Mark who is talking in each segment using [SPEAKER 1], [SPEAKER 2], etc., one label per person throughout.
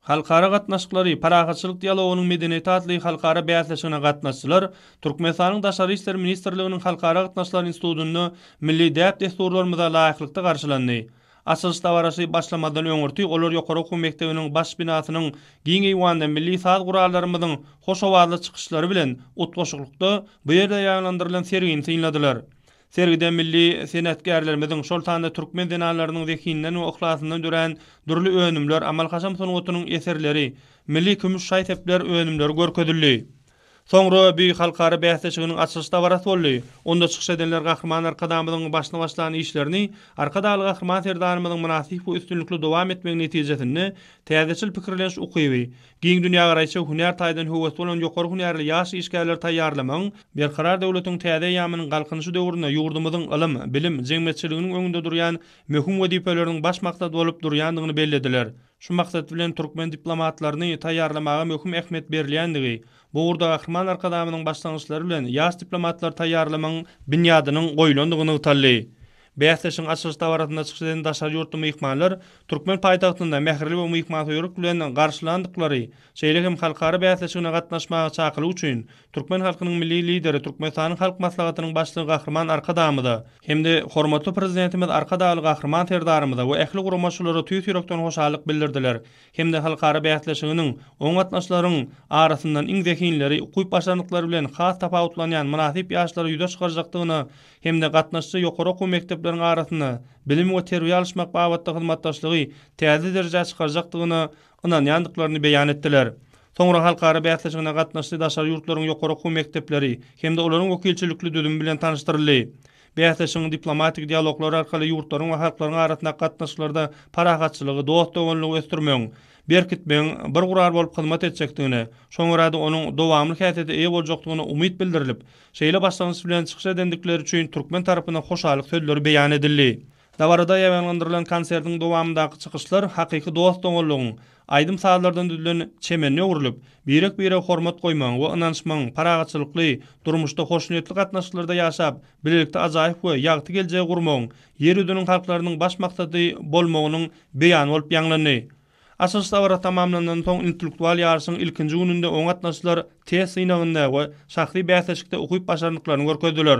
[SPEAKER 1] Halkara gatnaşyklary, parahatçylyk dialogynyň medeniýeti atly halkara bäsleşigine gatnaşyjylar Türkmenistanyň Daşary işler ministrliginiň Halkara gatnaşyklary institutynda milli däp-dessurlarymyza laýyklykda garşylandy. Açylyş dabarasy başlamazdan öňürti olar ýokary okuw mekdebiniň baş binasynyň giň eýwanda milli saz gurallarymyzyň hoş owazly çykyşlary bilen utgaşyklykda bu ýerde ýaýlandyrylan sergini synladylar. Sergide milli senatkärlerimiziň, şol sanda türkmen zenanlarynyň zehininden we yhlasyndan dörän dürli önümler, amal-haşam sungatynyň eserleri, milli kümüş şaý-sepler önümleri görkezildi. Soňra bü halkara bäsleşiginiň açylyş dabarasy boldy. Onda çykyş edenler Gahryman Arkadagymyzyň başyny başlan işlerini Arkadagly Gahryman Serdarymyzyň mynasyp we üstünlikli dowam etmegi netijesinde täzeçil pikirleniş ukyby, Giň dünýägaraýyşa hünär taýdan höwesli bolan ýokary hünärli ýaş işgärleri taýýarlamagyň Berkarar döwletiň täze eýýamynyň Galkynyşy döwründe ýurdumyzyň ylym, bilim, jemgyýetçiliginiň öňünde durýan möhüm wezipeleriniň baş maksady bolup durýandygyny bellediler. Şu maksat bilen türkmen diplomatlaryny taýýarlamaga möhüm ähmiýet berilýändigi, bu ugurda Gahryman Arkadagymyzyň başlangyçlary bilen ýaş diplomatlary taýýarlamagyň binýadynyň goýlandygy nygtaldy. Bäsleşigiň açylyş dabarasynda çykyş eden daşary ýurtly myhmanlar türkmen paýtagtynda mähirli we myhmansöýerlik bilen garşylandyklary, şeýle hem halkara bäsleşigine gatnaşmaga çakylyk üçin türkmen halkynyň Milli Lideri, Türkmenistanyň Halk Maslahatynyň Başlygy Gahryman Arkadagymyza hem-de hormatly Prezidentimiz Arkadagly Gahryman Serdarymyza we ähli guramaçylara tüýs ýürekden hoşallyk bildirdiler hem-de halkara bäsleşiginiň oň gatnaşyjylaryň arasyndan iň zehinleri, ukyp-başarnyklary bilen has tapawutlanýan mynasyp ýaşlary ýüze çykarjakdygyna hem-de gatnaşyjy ýokary okuw mekdepleriň arasynda bilim we terbiýe alyşmak babatda hyzmatdaşlygy täze derejä çykarjakdygyna ynanýandyklaryny beýan etdiler. Soňra halkara bäsleşigine gatnaşyjy daşary ýurtlaryň ýokary okuw mekdepleri hem-de olaryň wekilçilikli düzümi bilen tanyşdyryldy. Bäsleşigiň diplomatik dialoglar arkaly ýurtlaryň we halklaryň arasyndaky gatnaşyklarda parahatçylygy, dost-doganlygy ösdürmegiň, berkitmegiň bir gural bolup hyzmat etjekdigine, şoňa görä-de onuň dowamly häsiýete eýe boljakdygyna umyt bildirilip, Şeýle başlangyç bilen çykyş edendikleri üçin türkmen tarapyna hoşallyk sözleri beýan edildi. Dabarada ýaýbaňlandyrylan konsertiň dowamyndaky çykyşlar hakyky dost-doganlygyň, aýdym-sazlardan düzülen çemende öwrülip, birek-birege hormat goýmagyň we ynanyşmagyň, parahatçylykly, durmuşda hoşniýetli gatnaşyklarda ýaşap, bilelikde ajaýyp we ýagty geljegi gurmagyň Ýer ýüzüniň halklarynyň baş maksady bolmagynyň beýany bolup ýaňlandy. Açylyş dabara tamamlandan soň intellektual ýaryşyň ilkinji gününde oňa gatnaşyjylar test synagynda we şahsy bäsleşikde ukyp-başarnyklaryny görkezdiler.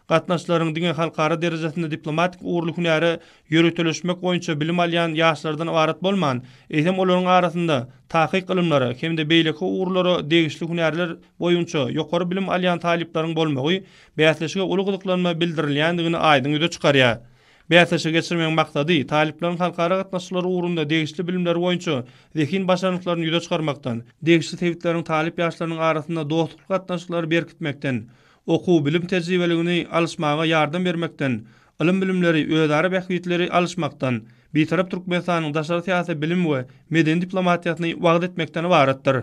[SPEAKER 1] Gatnaşyjylaryň diňe halkara derejesinde diplomatik ugurly hünäre ýöriteleşmek boýunça bilim alýan ýaşlardan ybarat bolman, eýsem olaryň arasynda takyk ylymlara hem-de beýleki ugurlara degişli hünärler boýunça ýokary bilim alýan talyplaryň bolmagy bäsleşige uly gyzyklanma bildirilýändigini aýdyň ýüze çykarýar. Bäsleşigi geçirmegiň maksady, talyplaryň halkara gatnaşyklary ugrunda degişli bilimleri boýunça zehin başarnyklaryny ýüze çykarmakdan, degişli sebitleriň talyp ýaşlarynyň arasynda dostlukly gatnaşyklary berkitmekden, okuw-bilim tejribeligini alyşmaga ýardam bermekden, ylym-bilimleri, özara bähbitleri alyşmakdan, Bitarap Türkmenistanyň daşary syýasy, bilim we medeni diplomatiýasyny wagyz etmekden ybaratdyr.